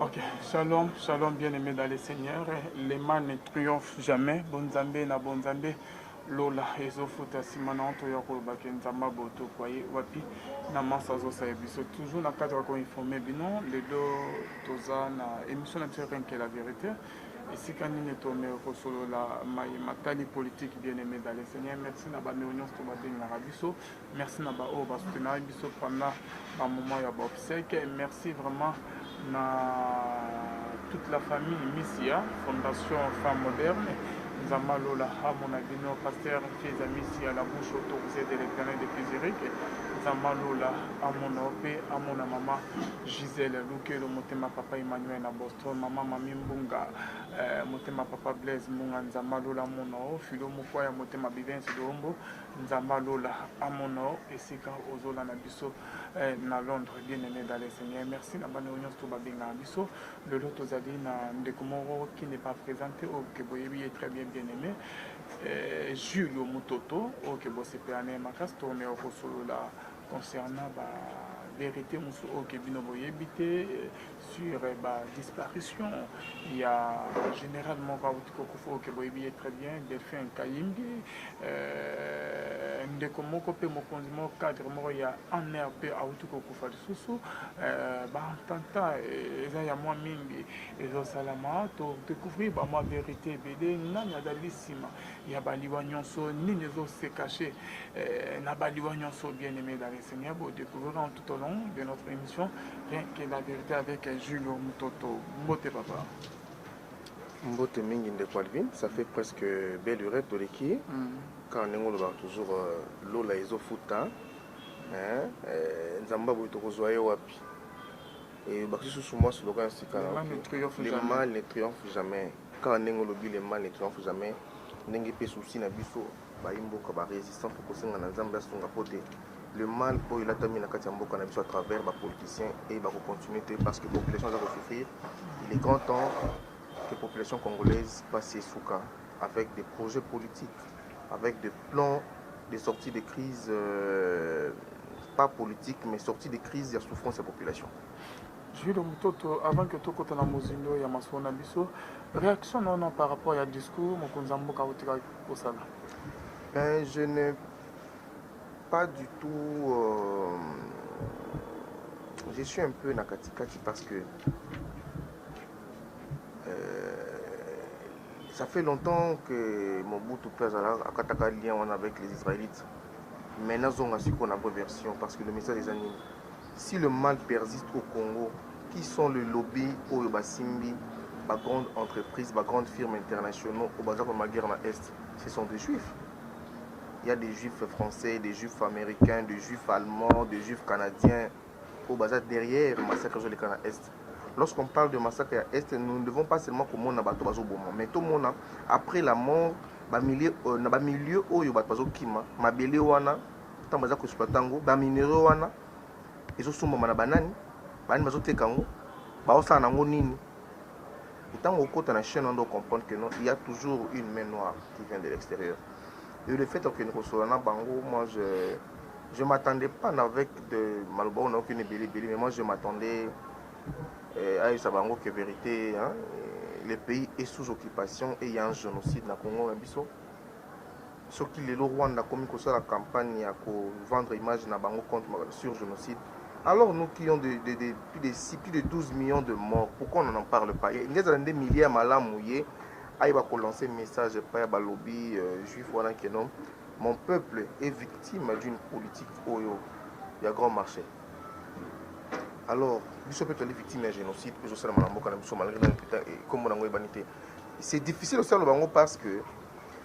Ok, shalom, shalom bien-aimé dans le Seigneur. Le mal ne triomphe jamais. Bon Nzambe na bon Nzambe. Lola ezofuta nsima na nto ya koloba ke nzambe aboto kwaye wapi na mansa azosala biso toujours na cadre ya koinforme bino lelo toza na émission na biso ya renke la vérité esika nini tome kosolola maye matali politike bien aimé dale seigneur merci na bameo nyonso tobabengaka biso Merci na ba oyo ba soutenaki biso pendant ba moment ya ba obsèques. Merci vraiment na toute la famille Misia Fondation Femme Moderne. Nzamba Lola amona bino pasteur Kieza Misia la bouche autorisée de l'éternel de Kizirike. Nzamba Lola amona pe amona mama Gisèle Lukelo motema papa Emmanuel na Boston, mama Mami Mbunga eh, motema papa Blaise Mbunga Nzamba Lola amona o filo mokwa ya motema Bivens Dombo Nzambe ya lola amona yo esika ozolanda biso eh, na Londres bien aimé dans le Seigneur. Merci na bana nyonso to babengaka biso. Lelo tozali na ndeko moko qui n'est pas présenté oyo oh, ke boyebi ye très bien bien aimé. Eh, Julio Mutoto oyo oh, ke bosepela na ye makasi toomeka kosolola concernant ba verité mosusu oyo oh, ke bino boyebi te eh, sur eh, ba disparition ya général moko awuti kokufa oke boyebi ye très bien delphin kayimbi euh, ndeko moko mpe mokonzi moko cadre moko ya anr mpe awuti kokufa lisusu euh, baentanta eh, eza ya mwa mingi ezosalama todécouvrir bamwa verité ebele nani azali nsima ya baliwa nyonso nini ezose cache euh, na baliwa nyonso bien aimé dans le seigneur bodécouvrir tout au long de notre émission rien que la vérité avec Julio Mutoto mbote papa mbote mingi ndeko Alvin ça fait presque belle heure toleki mm. car ndenge olobaka toujours euh, lola ezofuta hein? euh, nzambe aboyi tokozwa ye wapi et bakisusu mwa slogan ya sika le mal ne triomphe jamais car ndenge olobi le mal ne triomphe jamais ndenge mpe souci na biso Bayi mboka ba resistants faut kosenga na Nzambe asunga mpo te le mal oyo elatami na kati ya mboka na biso à travers ba politiciens et ba ko continuer te parce que population aza ko souffrir. Il est grand temps que population congolaise pasi esuka avec des projets politiques, avec des plans de sortie de crise euh, pas politique mais sortie de crise ya souffrance ya population. Julio Mutoto, avant que tokota na mozindo ya masolo na biso, réaction na wana par rapport ya discours mokonzi ya mboka autika kosala? Ben, je ne pas du tout euh, je suis un peu na katikati parce que Ça fait longtemps que Mobutu Père Akataka lien avec les Israélites. Maintenant, on a su qu'on a version parce que le message des animaux. Si le mal persiste au Congo, qui sont les lobbies oyo basimbi ba grandes entreprises, ba grandes firmes internationaux oyo baza komema guerre na Est? Ce sont des juifs. Il y a des juifs français, des juifs américains, des juifs allemands, des juifs canadiens oyo baza derrière massacre ezoleka na Est. Lorsqu'on parle de massacre ya Est, nous ne devons pas seulement komona bato bazoboma, mais tomona après la mort, ba milieu, euh, na ba milieu oyo bato bazokima, mabele wana ntango baza koexploite yango baminerio wana ezosombama na banani banani bazoteka yango baosala na yango nini ntango okota na chaine wana ocomprendre que non il y a toujours une main noire qui vient de l'extérieur et le fait okende kosolola na bango moi je je m'attendais pas avec de maloba oyo nayoki na ebele ebele mais moi je m'attendais euh, ayebisa bango que vérité hein, le pays est sous occupation et il y a un génocide na congo na biso Soki lelo Rwanda akomi kosala campagne ya ko vendre image na bango contre sur genocide, alors nous qui ont de, de, de, plus de 6, plus de 12 millions de morts, pourquoi on n'en parle pas? Inge ezala nde milieu ya malamu ye ayeba ko lancer message epai ya balobi euh, juif wana que non mon peuple est victime d'une politique oyo ya grand marché alors biso mpe tozali victime ya génocide mpe ezosalama na mboka na biso malgré nani mpenza nkombo na yango eyebani te c'est difficile osala bango parce que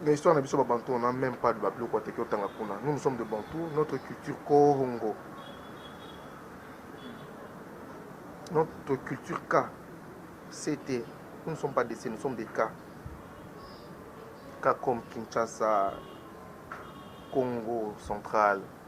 Mais histoire na biso ba bantou on a même pas de ba biloko ateki otanga kuna. Nous nous sommes de bantou, notre culture Kongo. Notre culture K, c'était, nous ne sommes pas des C, nous sommes des K. K comme Kinshasa, Congo central,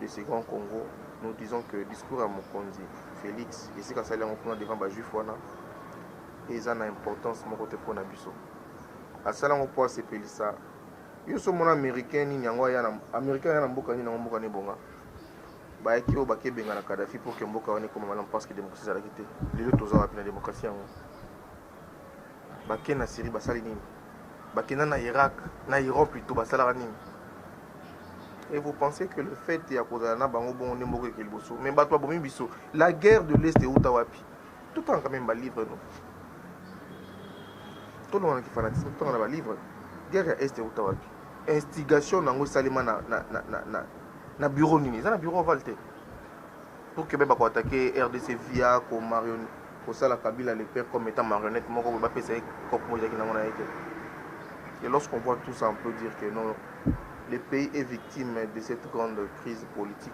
de ce grand Congo nous disons que discours ya mokonzi Felix esika asali yango kuna devant ba juif wana eza na importance moko te mpo na biso asala yango mpo asepelisa yo so mona américain nini yango aya na américain aya na mboka nini yango mboka nebonga bayaki oyo bakebenga na kadafi mpo ke mboka wana ekoma malamu parce que démocratie ezalaki te lelo toza wapi na démocratie yango Bake na Syrie basali nini? Bakenda na Irak, na Iran plutôt basalaka nini? Et vous pensez que le fait ya kozala na bango bongo nde moko ekeli boso? Mais bato babomi biso. La guerre de l'Est euta wapi? Totanga quand même ba livre no. Tolonga na kifanatisme, totanga na ba livre. Guerre ya Est euta wapi? Instigation nango esalema na na na na, na, na bureau nini? Eza na bureau oval te. Pour que beba ko attaquer RDC via ko marion kosala kabila le père comme étant marionnette moko boye bapesa ye cope moko ezalaki nango na ye te et lorsqu'on voit tout ça on peut dire que non le pays est victime de cette grande crise politique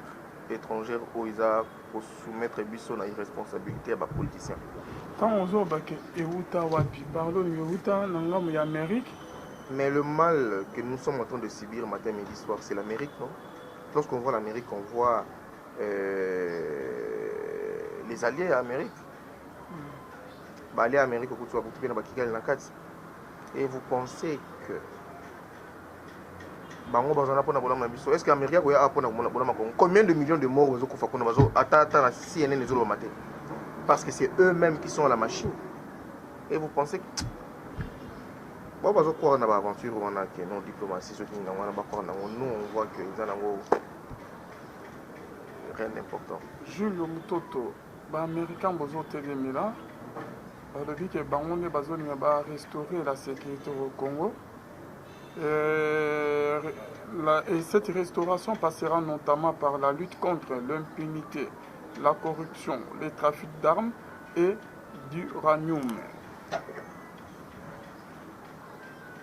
étrangère oyo eza kosoumettre biso na irresponsabilité ya bapoliticien ntango ozoloba ke euta wapi parle olingi euta na ngambo ya amérique mais le mal que nous sommes en train de subir matin midi soir c'est l'amérique non lorsqu'on voit l'amérique on voit euh, les alliés ya Amérique mm. ba alliés ya Amérique okuti bakuti mpe na bakigali na kati et vous pensez que bango bazana mpona bolamu na biso est ce que américain akoya awa mpona bolama congo combien de millions de morts bazokufa kuna bazo ata ata na cnn ezolobama te parce que c'est eux mêmes qui sont à la machine et vous pensez bao bazokwaka na baaventure wana ke non diplomatie soki ngango wana bakwaka nango nous on voit que eza nango rien d'important. Julio Mutoto, ba Americains bozo telemela balobi ke bango nde bazolinga ba restaurer la sécurité au Congo. Euh, la, et cette restauration passera notamment par la lutte contre l'impunité, la corruption, les trafics d'armes et d'uranium.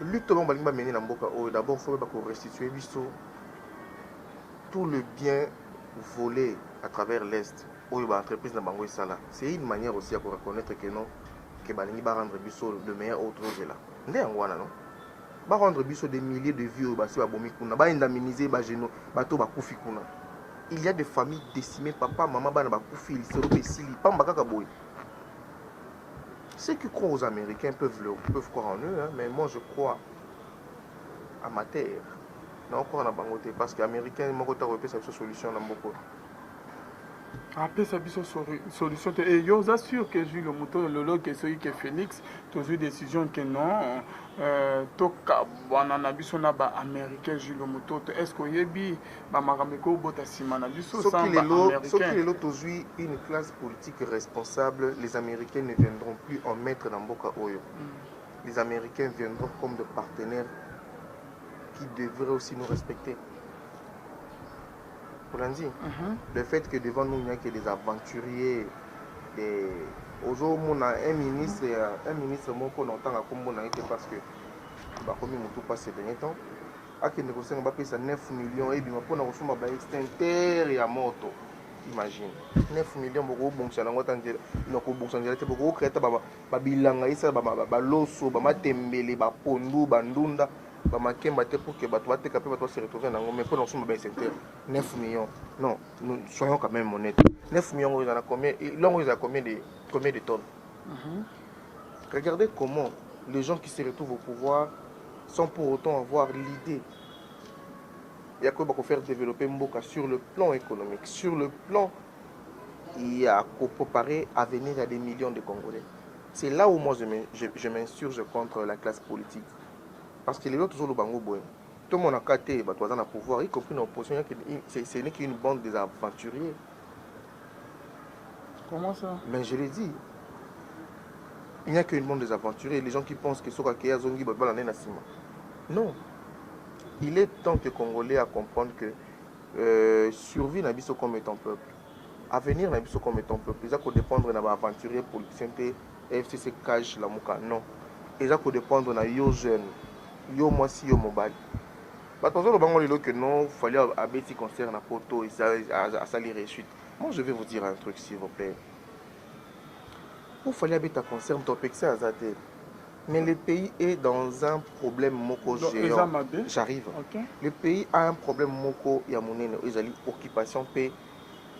Lutte oyo balingi bamene na mboka oyo d'abord faut ba ko restituer biso tout le bien vole à travers l'est oyo ba entreprise na bango esala c'est une manière aussi ya ko reconnaitre que non que balingi ba rendre biso le meilleur oyo tozozela nde yango wana non ba rendre biso des milliers de vies oyo basi babomi kuna ba indemniser ba geno bato bakufi kuna il y a des familles décimées papa mama bana bakufi lisolo mpe esili pamba kaka boye ceux qui croient aux américains peuvent, le, peuvent croire en eux hein, mais moi je crois Amateur. Nao croire na bango te parce que americain moko te akoki pesa biso solution na mboka oyo. apesa biso sori- solution te e yo oza sur que zwi lomoto oyo lelo ke soki ke félix tozwi décision ke non euh, tokabwana na biso na baaméricain zwi lomoto to est ce que oyebi bamakambo ekobota nsima na biso Soki sans lelo, soki baaméricain lelo tozwi une classe politique responsable, les Américains ne viendront plus en maître na mboka oyo. Les Americains viendront comme des partenaires qui devraient aussi nous respecter. Olandi, mm -hmm. le fait que devant nous, il n'y a que des aventuriers, des... ozomona un ministre un ministre moko na otanga nkombo na ye te parce que bakomi motu mpa ces dernier temps akende kosenga bapesa 9 millions ebima mpona kosomba baextincteur ya moto imagine 9 million bokobongisa nango ata nzela nakobongisa nzela te bokokrea ata ba bilanga esala ba, ba, ba loso ba matembele ba pondu ba ndunda ba makemba te pour que bato bateka mpe bato base retrouver nango mais mpo na kosomba baesenteur 9 millions non nous soyons quand même honnête 9 millions oyo ezala combien longo ezala combien de combien de tonnes mm -hmm. regardez comment les gens qui se retrouvent au pouvoir sans pour autant avoir l'idée ya koyeba kofaire développer mboka sur le plan économique sur le plan ya ko preparer avenir ya des millions de congolais c'est là où moi je m'insurge contre la classe politique parce que lelo tozoloba yango boye tomona ka te bato baza na pouvoir y compris na opposition ce n'est qu'une bande des aventuriers comment ça mais je l'ai dit il n'y a qu'une bande des aventuriers les gens qui pensent que soka keya zongi babala nde na sima non il est temps que congolais à comprendre que Euh, survie na biso comme étant peuple avenir na biso comme étant peuple eza kodépendre na baaventurier politicien te fcc cage lamuka non eza kodépendre na yo jeune yo mwasi yo mobali bato bazoloba ngo lelo ke non fali abeti concert na poto asali réussite moi je vais vous dire un truc s'il vous plaît po fali abeta concert moto apekisa aza te Mais le pays est dans un problème moko géant. J'arrive. Okay. Le pays a un problème moko ya monene oyo ezali occupation pe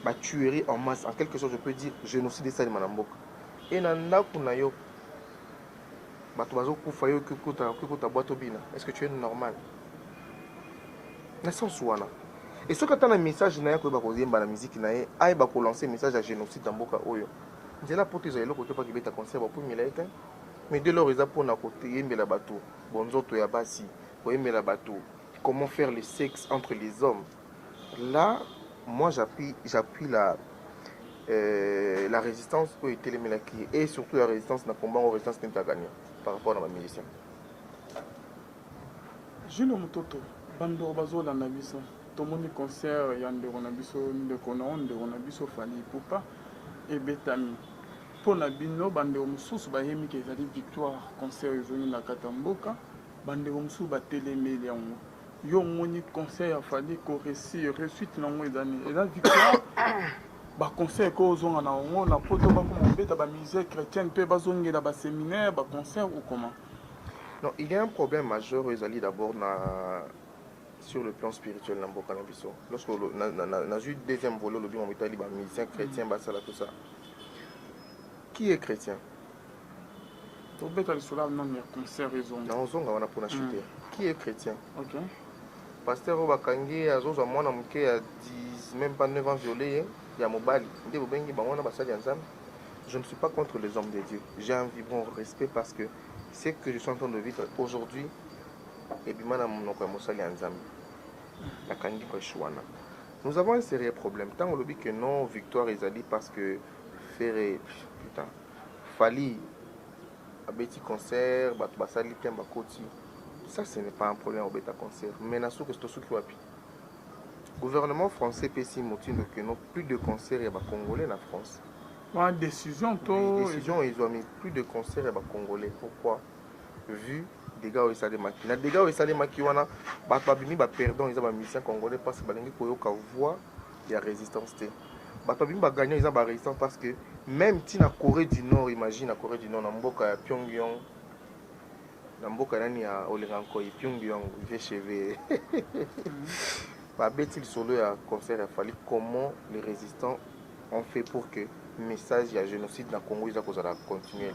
ba tuerie en masse en quelque sorte je peux dire génocide esalema na mboka. Et na ndako na yo bato bazokufa yo okikota bwato obina est ce que tu es normal na sens wana e soki ata na message na ye akoyeba koyemba na miziki na ye ayeba kolanse message ya génocide na mboka oyo nzela poto ezala eloko te mpo akibeta concert bakumela ye te Mais dès lors eza pona ko yembela batu bonzoto ya basi, ko yembela batu comment faire le sexe entre les hommes. Là moi j'appuie j'appuie la euh, la resistance oyo etelemelaki et surtout la resistance na combat ngo resistance nini tagania par rapport na ba musiciens. Jules Mutoto bandeko bazolanda biso tomoni concert ya ndeko na biso ndeko na yo ndeko na biso fali ipupa ebetami Mpo na bino, bandeko mosusu bayemi ke ezali victoire, concert ezongi na kati ya mboka, bandeko mosusu batelemeli yango. Yo omoni concert ya Fally ko reussir, reussite na yango eza nini? Eza victoire? ba concert ko ozonga na yango na poto bakoma kobeta ba musee chrétienne mpe bazongela ba seminaire ba concert ou comment? Non, il y a un problème majeur oyo ezali d'abord na sur le plan spirituel na mboka na biso lorsque nazwi deuxième volet olobi mamo etali bamusicien chrétien basala tout ça qui est chrétien tobeta lisolo nani ya concert ezonga naozonga wana mpona chute hmm. qui est chrétien okay. pasteur oyo bakangi ye azozwa mwana moke ya 10 même pas 9 ans viole ye ya mobali nde bobengi bango wana basali ya nzambe je ne suis pas contre les hommes de dieu j'ai un vibrant respect parce que ce que je suis en train de vivre aujourd'hui ebima na monoko ya mosali ya Nzambe. Nakangi prêche wana. Nous avons un sérieux problème. Tango lobi que non, victoire ezali parce que Ferre, putain, Fali abeti concert, bato basali te bakoti. Ça, ce n'est pas un problème obeta concert. Mais na suki, c'est suki wapi. Gouvernement français pesi motindo que non, plus de concerts ya ba Congolais na France. Ba décision to. Décision, ils ont mis plus de concerts ya ba Congolais. Pourquoi? Vu dega oyo esalemaki na dega oyo esalemaki wana bato babimi baperdant eza bamusicien congolais parce balingi koyoka voix ya résistance te bato babimi bagagnant eza barésistance parce que même ti na corée du nord imagine na corée du nord na mboka ya pyongyong na mboka nani ya olinga nkoi pyongyong vchv babeti lisolo ya concert ya fali comment les résistants on fait pour que message ya génocide na congo eza kozala continue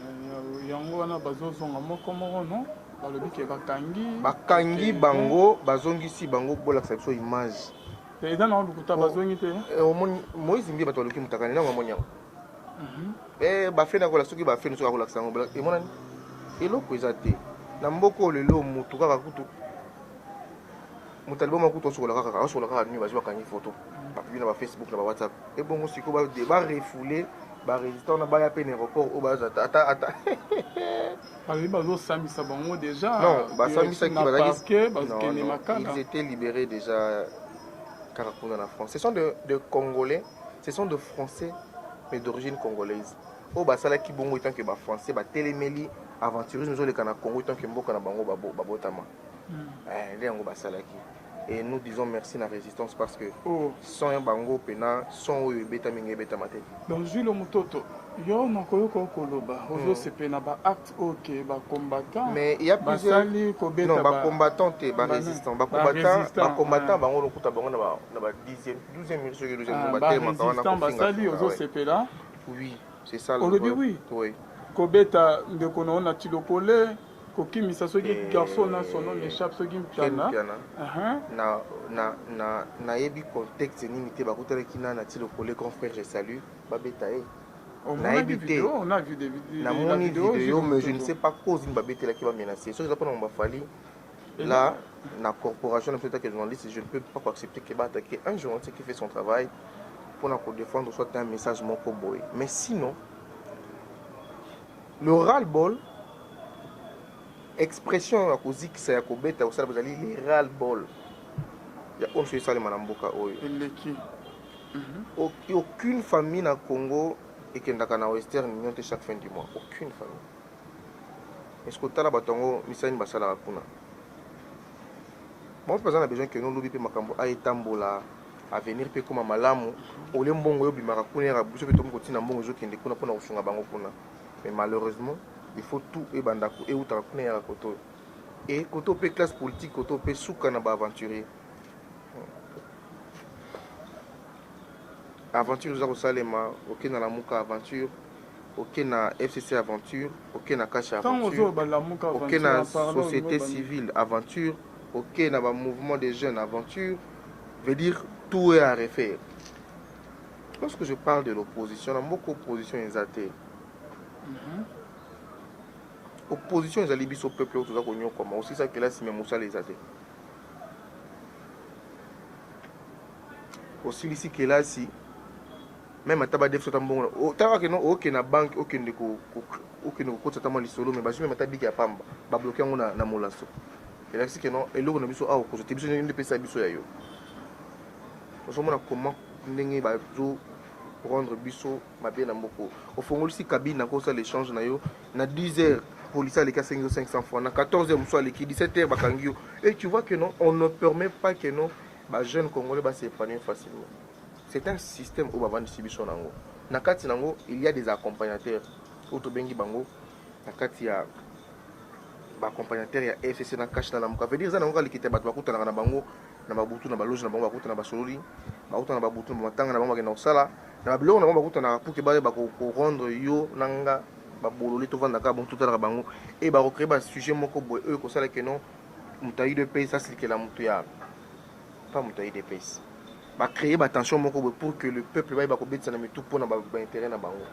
yango wana bazozonga moko moko no balobi ke bakangi bakangi bango bazongisi bango bolakisa biso image eza na lokuta bazongi te eh, omoni moise mbi bato baluki motakani nango amoni yango mhm. eh, bafeni akola soki bafeni soki akolakisa yango emonani eloko eza te na mboka oyo lelo motu kaka kutu moto aliboma kutu asokola kaka asokola kaka nini bazwi bakangi foto bapibi na bafacebook na bawhatsapp ebongo sikoyo barefoule barésistant wana baya mpe na aéroport oyo baza ata ata bazali bazosambisa bango déjà non basambisaki bazalaki bazokende makala ils étaient libérés déjà kaka kuna na france ce sont de, de congolais ce sont de français mais d'origine congolaise oyo basalaki bongo etant que bafrançais batelemeli aventurisme ezoleka na congo etant que mboka na bango babotama babo eh, nde yango basalaki et nous disons merci na résistance parce que oh. son ya bango mpena son oyo ebetami ngai ebetama te donc julo mototo yo nakoyoka okoloba hmm. ozosepele na baacte oyo ke bacombattant basali kobeta bacombattant te barésistant bacombattant bango lokuta bango na ba 12e minute soki 12e ah, batelemaka wana basali ozosepela oui c'est ça olobi oui kobeta ndeko na yo na tilokole kokimisa soki eh, garçon na son nom m'échappe soki mpiana nayebi contexte nini te bakutanaki na nati lokole grand frère je salue babeta ye oh, nayebi te namoni video mais je ne sais pas cause nini babetelaki bamenace soki eza mpona ngo bafali eh là na corporation na biso etake journaliste je ne peux pas accepter que baattaquer un journaliste qui fait son travail mpona kodefendre soit un message moko boye mais sinon Le ras-le-bol, expression ya kozikisa ya kobeta ya kosala bozali le ras-le-bol ya oyo nso esalema na mboka oyo eleki mhm. aucune famille na congo ekendaka na western union te chaque fin du mois aucune famille eske otala bato yango misala nini basalaka kuna bango mpe baza na besoin keno lobi mpe makambo aetambola ah, avenir mpe ekoma malamu ole mbongo oyo obimaka kuna yaka biso mpe tokomi kotina mbongo ezokende kuna mpona kosunga bango kuna mais malheureusement il faut tout ebanda eutaka kuna yaka koto e koto mpe classe politique koto mpe suka na baaventurier aventure eza kosalema okenda na muka aventure oke na fcc aventure oke na kasha aventure oke na société civile aventure oke na bamouvement des jeunes aventure veut dire tout est à refaire lorsque je parle de l'opposition na mboka opposition eza te mhm. opposition ezali biso peuple oyo toza konyokwama osisa kelasi me mosala eza te osilisi kelasi meme ata ba defso ta mbongo na o ta ke no o ke na banque o kende ko o kende ko kotsa ta mwa lisolo mais bazui meme ta biki ya pamba ba bloquer yango na na molaso et là c'est que non eloko na biso awa ko te biso nde pesa biso ya yo ozo mona comment ndenge ba zo rendre biso mabe na mboko ofongolisi kabine na kosa l'échange na yo na 10 heures policier aleki asengi yo 500 francs na 14 heures mosusu aleki 17 heures bakangi yo et tu vois que non on ne permet pas que non ba jeunes congolais ba s'épanouir facilement C'est un système oyo bavandisi biso nango na kati nango il y a des accompagnateurs oyo tobengi bango na kati ya ba accompagnateurs ya FCC na cash na lamuka veut dire eza nango kalikita bato bakutanaka na bango na babutu na baloge na bango bakutana basololi bakutana na babutu na bamatanga na bango bakenda kosala na babiloko na bango bakutanaka puke baye bakorendre yo na nga babololi tovanda kaka bongo totalaka bango e bakocree basujet moko boye oyo ekosala keno moto aide mpe esasilikela moto ya pas moto ya idps ba créer ba tension moko boye pour que le peuple bayeba kobetisa na mitu mpo na ba intérêt na bango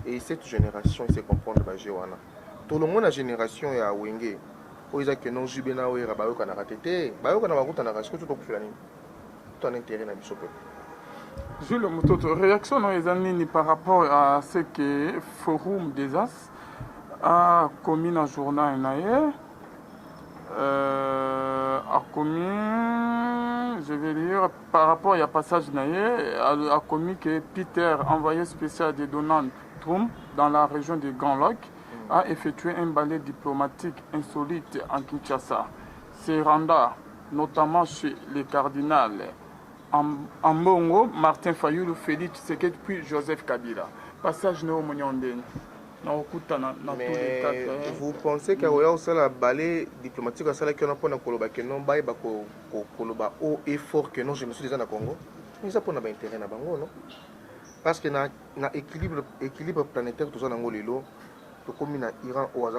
et cette génération ese comprendre ba jeu wana tolongo na génération ya wenge oyo eza keno jube na wera bayokanaka te te bayokana bakutanaka sikoyo tokufela nini to ana intérêt na biso peuple Jules Mutoto, réaction non eza nini par rapport à ce que Forum des As a commis na journal na ye Euh, akomi je vais lire par rapport ya passage na ye akomi que peter envoyé spécial de donald trump dans la région de grand lac a effectué un balai diplomatique insolite en kinshasa se renda notamment chez le cardinal ambongo martin fayulu félix tshisekedi puis joseph kabila passage na yo omoni ondeni nakokutana na tous les cas mais vous pensez que akoya kosala bale diplomatique asalaki wana mpona koloba que non bayeba koloba haut et fort que non génocide eza na congo eza mpona baintérêt na bango non parce que na, na équilibre, équilibre planétaire toza nango lelo tokomi na iran oyo aza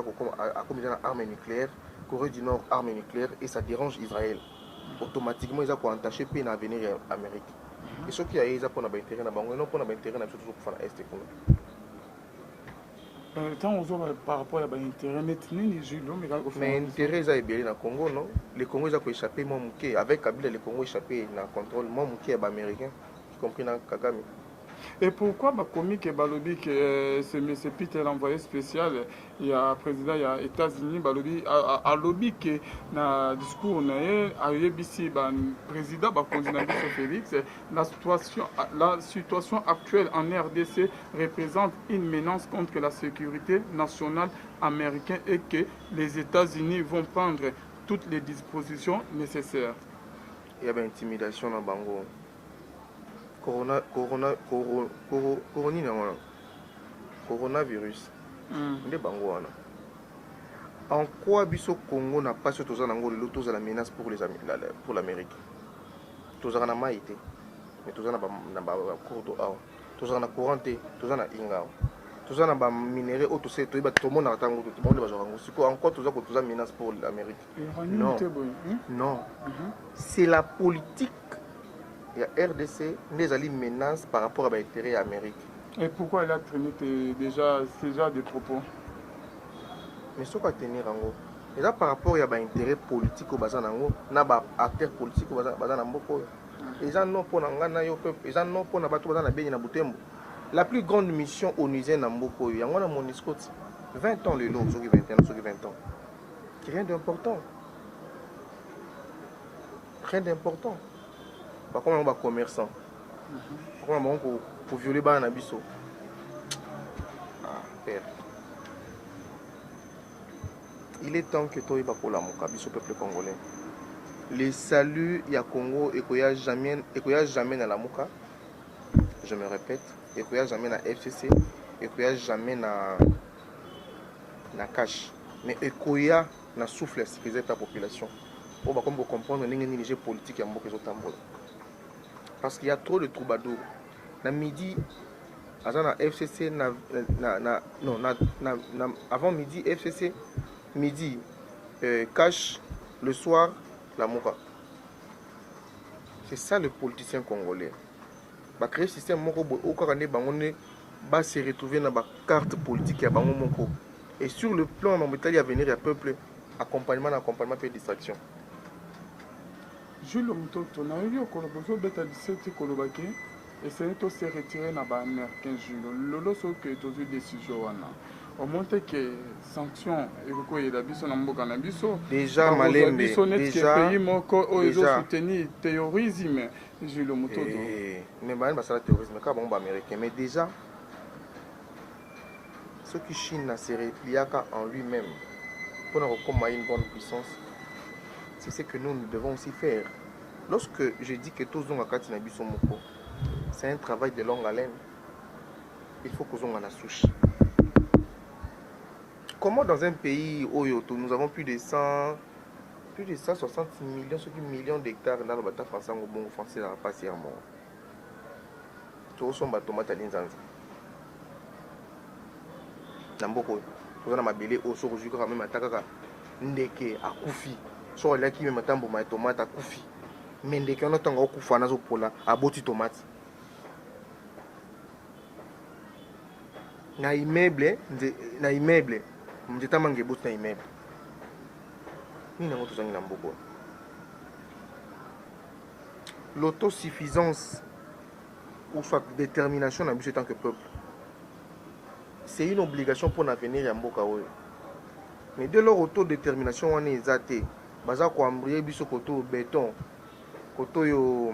akomi eza na arme nucléaire corée du nord arme nucléaire et ça dérange israël automatiquement eza koentache mpe na avenir ya amérique mhm. et soki aye eza mpona baintérêt na bango eno mpona baintérêt na biso tozokufa na este kuna ntango euh, ozoba par rapport ya baintérêt neti nini mais intérêt eza ebele na congo non le congo eza koéchappe mwa moke avec kabila le congo échappe na contrôle mwa moke ya baaméricain y compris na kagame Et pourquoi bakomi ke balobi ke euh, ce monsieur Peter envoyé spécial ya president ya Etats-Unis balobi alobi ke na discours na ye ayebisi ba president bakonzi na biso Felix la situation, la situation actuelle en RDC représente une menace contre la sécurité nationale américaine et que les États-Unis vont prendre toutes les dispositions nécessaires. Il y a intimidation na bango. Corona corona corona corona Coronavirus nde bango wana. En quoi biso Congo na pasi oyo toza nango lelo tozala menace pour les pour l'Amerique? Tozalaka na mayi te mais toza na ba na ba cours d'eau awa. Tozalaka na courant te toza na inga awa. Toza na ba minerais oyo tose toyeba tomonaka tango te bango nde bazwaka yango. Sikoyo en quoi toza ko toza menace pour l'Amerique? Non, non. C'est la politique ya rdc nde ezali menace par rapport ya baintérêt ya amérique et pourquoi elle a traîné te déjà ce genre de propos mais soki atenir yango eza par rapport ya baintérêt politique oyo baza na yango na baacteur politique oyo baza na mboka oyo eza non mpo na ngai na yo mpe eza non mpo na bato baza na beni na butembo la plus grande mission onusienne na mboka oyo yango wana monisco ti 20 ans lelo soki 21 soki 20 ans rien d'important rien d'important bakoma bango bacommerçant bakoma bango koviole bana na biso ah, père il est temps que toyeba kolamuka biso peuple congolais le salut ya congo ekoya jamais, ekoya jamais na lamuka je me répète ekoya jamais na fcc ekoya jamais na na cash mais ekoya na souffle ya sécurité ta population oyo bakomi ko comprendre ndenge nini jeu politique ya mboka ezotambola parce qu'il y a trop de troubadour na midi aza na fcc na, na, na, non, na, na, na, avant midi fcc midi euh, cash le soir la moura c'est ça le politicien congolais Ba cree système moko boye ou kaka nde bango nde ba se retrouver na ba cartes politiques ya bango moko et sur le plan mambo etali avenir ya peuple accompagnement na accompagnement pe distraction. Jules Mutoto nayoki okoloba ozobeta lisolo ti koloba ke esengeli to se retirer na ba americains Jules lelo soki ke tozwi decision wana omoni te ke sanction ekoki koyela biso na mboka na biso deja malembe biso neti ke pays moko oyo ezo soutenir terrorisme Jules Mutoto. Eh, mais bani basala terrorisme kaka bango ba américain mais déjà soki Chine na se repliaka en lui-même pour na kokoma une grande puissance c'est ce que nous nous devons aussi faire lorsque je dis que tozonga kati na biso moko c'est un travail de longue haleine il faut kozonga na sushi comment dans un pays oyo nous avons plus de 100 plus de 160 millions soki millions d'hectares nano bata français yango bongo français ezalaka mpasi ya moo tokosomba tomate ya linzanza na mboka oyo toza na mabele oyo soki ozwi kaka meme ata kaka ndeke akufi soki aliaki meme ata mbuma ya tomate akufi me ndeke wana ntango akufa nazopola aboti tomate na immeuble nze, na immeuble nzeta manga eboti na immeuble nini yango tozangi na mboka l'autosuffisance ou soit détermination na biso tant que peuple c'est une obligation mpo na avenir ya mboka oyo mais de lors auto détermination wana eza te baza koambrie biso koto beton koto yo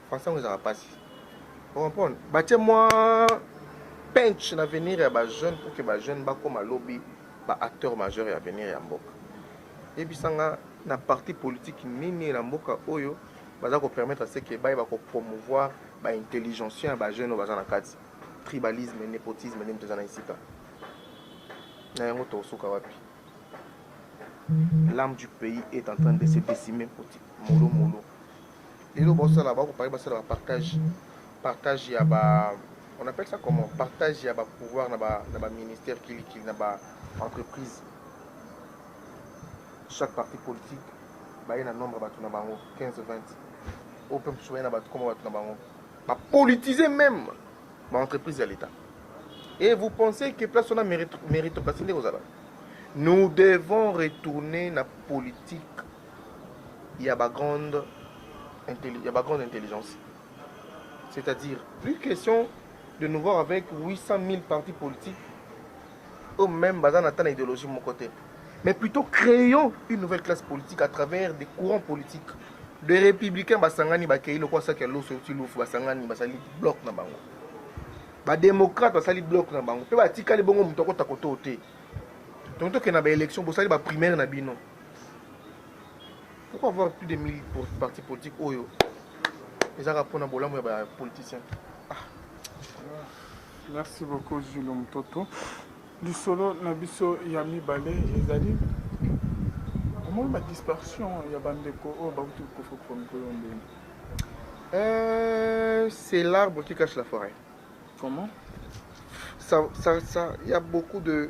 français yango ezalaka mpasi comprendre batie mwa penche na avenir ya bajeune pour ke bajeune bakóma lobi baacteur majeur ya avenir ya mboka yebisanga na parti politique nini na mboka oyo baza kopermettre se ke bayeba kopromouvoir baintelligentien ya bajeune oyo baza na kati tribalisme népotisme nini toza na esika na yango tokosuka wapi l'âme du pays est en train de se décimer molo molo Lelo bosala ba compagnie basala ba partage partage ya ba on appelle ça comment partage ya ba pouvoir na ba na ba ministère kili kili na ba entreprise chaque parti politique baye na nombre bato na bango 15 20 oyo mpe mosusu baye na bato koma bato na bango bapolitise même baentreprise ya l'état et vous pensez que place wana méritocratie nde kozala nous devons retourner na politique ya ba grande ya ba grande intelligence c'est-à-dire plus question de nous voir avec 800 000 partis politiques eux même baza na ta na idéologie mon côté mais plutôt créons une nouvelle classe politique à travers des courants politiques de républicains basangani bakei lokola saki ya loso euti lufu basangani basali bloc na bango badémocrate basali bloc na bango mpe batikali bongo moto akota kotoo te tontoke na baélection bosali baprimaire na bino Pourquoi avoir plus de 1000 partis politiques oyo ezaka mpona bolamu ya ba politiciens ah. Merci beaucoup Jules Mutoto. Lisolo na biso ya mibale ezali omoni ba dispersion ya bandeko oyo bakuti kokofa kofa mikolo ndenge euh, c'est l'arbre qui cache la forêt comment ça, ça, ça, y a beaucoup de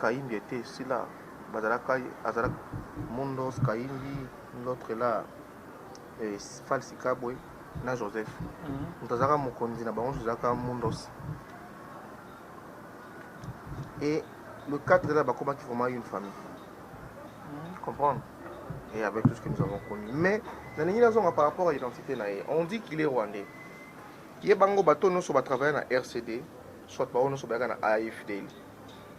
Kahimbi etait sila bazalaka azalaka mundos kahimbi l'autre là falsi kabwe na joseph moto azalaka mokonzi na bango ezalaka mundos et le 4 là bakomaki vraiment une famille mm. comprendre et avec tout ce que nous avons connu mais nalingi nazonga par rapport à identité na ye on dit qu'il est rwandais ye bango bato nyonso batravaille na rcd soit bango nyonso bayaka na afdl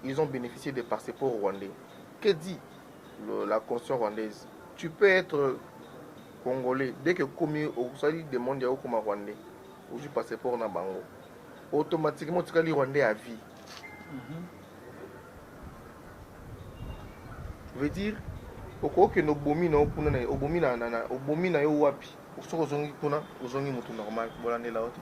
ils ont beneficié des passeports rwandais. Que dit le, la constitution rwandaise Tu peux être congolais dès que commis au sali demande au comme rwandais ou du passeport na bango. Automatiquement tu les rwandais à vie. Mm -hmm. Veut dire okoki no bomi na kuna na obomi na na obomi na yo wapi soki ozongi kuna ozongi mutu normal bolandela yo te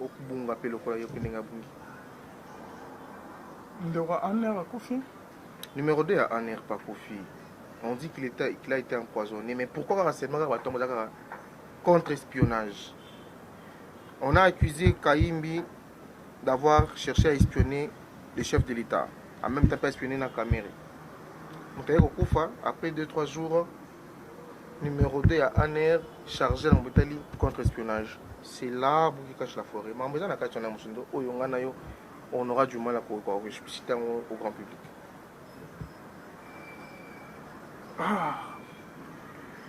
Okobunga pe lokola yo pe ndenge abungi. Ndeko ya Anne akufi. Numero 2 ya Anne pa akufi. On dit qu'il était qu'il a été empoisonné mais pourquoi kaka seulement kaka bato baza kaka contre espionnage. On a accusé Kayimbi d'avoir cherché à espionner le chef de l'État. En même temps pas espionner na Kamerhe. Moto aye kokufa après 2 3 jours numero 2 ya anr charge na botali contre espionnage c'est là buki cache la forêt makambo eza na kati wana mosusu ndo oyo ngai na yo on aura du mal à koexplicite yango au grand public ah,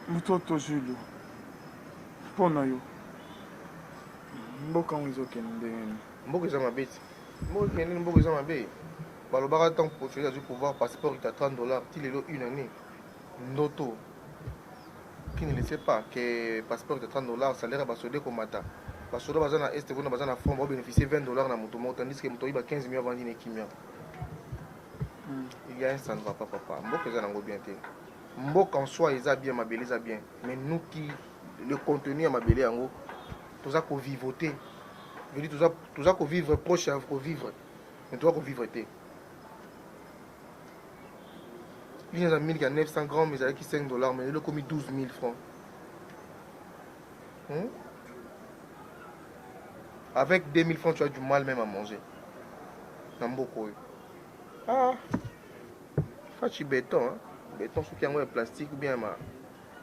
mototo julio mpo na yo mboka yango ezokende ndenge nini mboka eza mabe ti mboka ekende nini mboka eza mabe balobaka ntango potueli azwi pouvoir passeport ita 30 dollars ti lelo une année ndoto qui ne le sait pas que passeport de 30 dollars salaire ya basoda ekomata basoda baza na este kuna baza na front baobénéficie 20 dollars na moto moko tandis que moto oyiba 15 million avandi na ekimia hmm. il y a un ça ne va pas papa mboka eza nango bien te mboka en soi eza bien mabele eza bien mais nous qui le contenu ya mabele yango toza kovivote vedi toza kovivre proche ya kovivre mais toza kovivre te Une eza milk ya 900 grammes ezalaki 5 dollars mais lelo ekomi 12 000 francs. Hmm? Avec 2000 francs tu as du mal même à manger. Na mboka oyo. Ah. Fachi béton hein. Béton soki yango ya plastique ou bien ma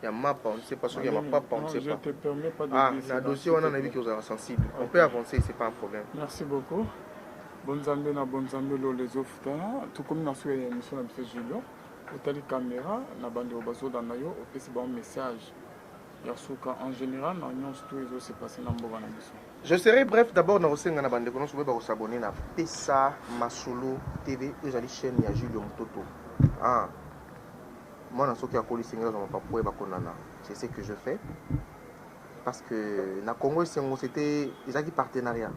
ya mapa on ne sait pas soki ya mapapa on ne sait pas ah na dossier wana nayebi ke ozalaka sensible on peut avancer c'est pas un problème merci beaucoup bonzambe na bonzambe lola ezofutana tokomi na suka ya émission na biso julio otali caméra na bandeko bazolanda yo opesi bango message ya suka en général na nyonso to ezose passe na mboka na biso je serai bref d'abord nakosenga na bandeko nyonso boye bakosabone na pesa masolo tv oyo ezali chaîne ya julio mototo ah. Mwana soki akoli esengeli azwa mapapu po ayeba konana. C'est ce que je fais parce que na Congo esengo c'etait ezalaki partenariat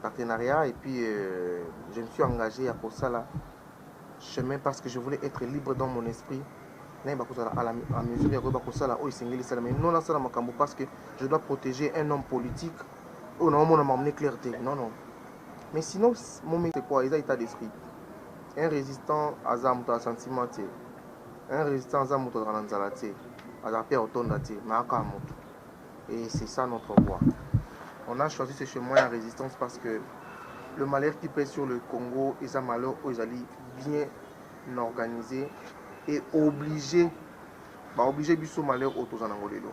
partenariat et puis euh, je me suis engagé ya kosala chemin parce que je voulais être libre dans mon esprit nayeba kozala à la à mesure ya koyeba kosala oyo esengeli esala mais non nasala makambo parce que je dois protéger un homme politique oyo naomona makambo ne clair te non non mais sinon mon c'est quoi eza état d'esprit Un resistant aza moto ya sentiment te un resistant aza moto azalaka na nzala te azalaka pe ya kotonda te mais aka moto et c'est ça notre voix on a choisi ce chemin ya résistance parce que le malheur qui pèse sur le Congo eza malheur oyo ezali bien organisé et obligé baoblige biso malheur oyo toza nango lelo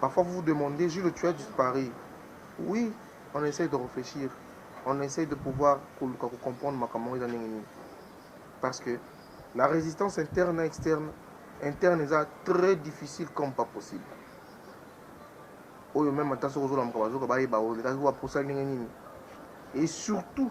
Parfois vous vous demandez Jules tu as disparu oui on essaye de réfléchir on essaye de pouvoir koluka ko comprendre makambo yango eza ndenge nini parce que la résistance interne na externe interne eza très difficile comme pas possible oyo meme ata soki ozolamuka bazoka bayeba olekaki wapi osali ndenge nini et surtout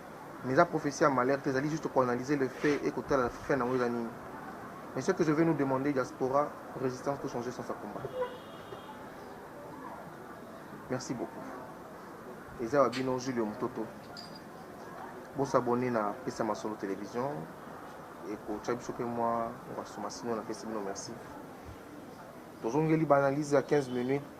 mais eza prophetie ya malheur te ezali juste koanalyse le fait et kotala fin nango eza nini mais ce que je vais nous demander diaspora résistance peut changer sans sa combat merci beaucoup eza wa bino julio mototo bosabone na pesa masolo télévision ekotya biso mpe mwa basoma sino napesi bino merci tozongeli baanalyse ya 15 minutes